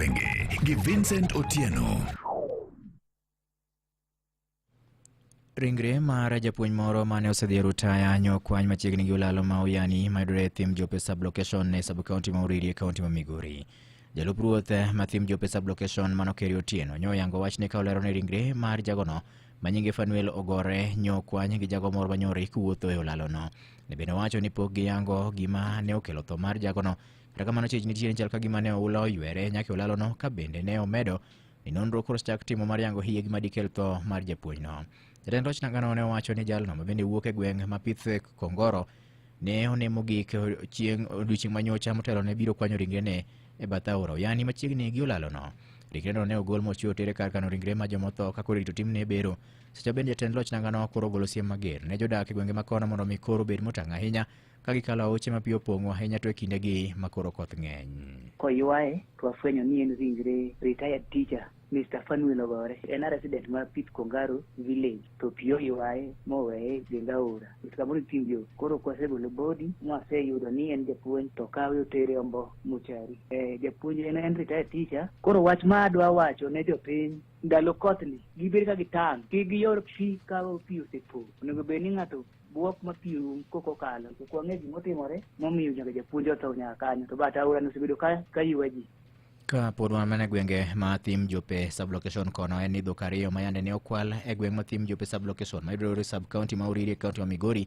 Penge gi Vincent Otieno. Ringre mar japuonj moro mane osedhi rutaya nyo kwany machiegni gi olalo ma Uyani mayudore e thim Jope sublocation e subkaunti ma Uriri e kaunti ma Migori. Jalup ruoth ma thim Jope sublocation mano Keri Otieno nyo yango wachne ka olero ni ringre mar jagono ma nyinge Fanuel Ogore nyo kwany gi jago moro manyori kuwuotho e olalono. Ne bende owacho ni pok giyango gima ne okelo tho mar jagono Kata kamano chich nitie ni chal ka gima ne oula oywere nyaka olalono ka bende ne omedo ni nonro koro chak timo mar yango hiye gima dikel tho mar japuonjno. Jatend loch nangano ne owacho ni jalno ma bende wuok e gweng' ma pith Kongoro ne onemo gik chieng' odiechieng' manyocha motelo ne biro kwanyo ringrene e bath aora Oyani machiegni gi olalono. Ringreno ne ogol mochwe otere kar kano ringre ma jomotho ka koro irito timne bero. Seche bende jatend loch nangano koro ogolo siem mager ne jodak e gwenge ma kono mondo mi koro obed motang' ahinya ka gikalo aoche ma pi opong'o ahinya to e kindegi ma koro koth ng'eny. Koywaye to wafwenyo ni en ringre retired teacher Mr. Fanuel Ogore en a resident ma Pit Kongaro village to pi oywaye moweye Genga Ora Kamoro Timbio. Koro kwasegolo body mwaseyudo ni en japuonj to kawe otere Ombo Muchari. Eh, japuonj en, en retired teacher. Koro wach ma adwa wacho ne jopiny ndalo kothni gibed ka gitang' kik giyor pi ka pi osepo. Onego bed ni ng'ato bwok ma pi orum kok okalo to ok wang'e gimotimore momiyo nyaka japuonj otho nyaka kanyo to bat aora nosebedo ka ka ywa ji Ka pod wan mana e gwenge ma thim jope sublocation kono en ni dhok ariyo ma yande ne okwal e gweng' ma thim jope sublocation ma yudore sub county ma Oriri e county ma Migori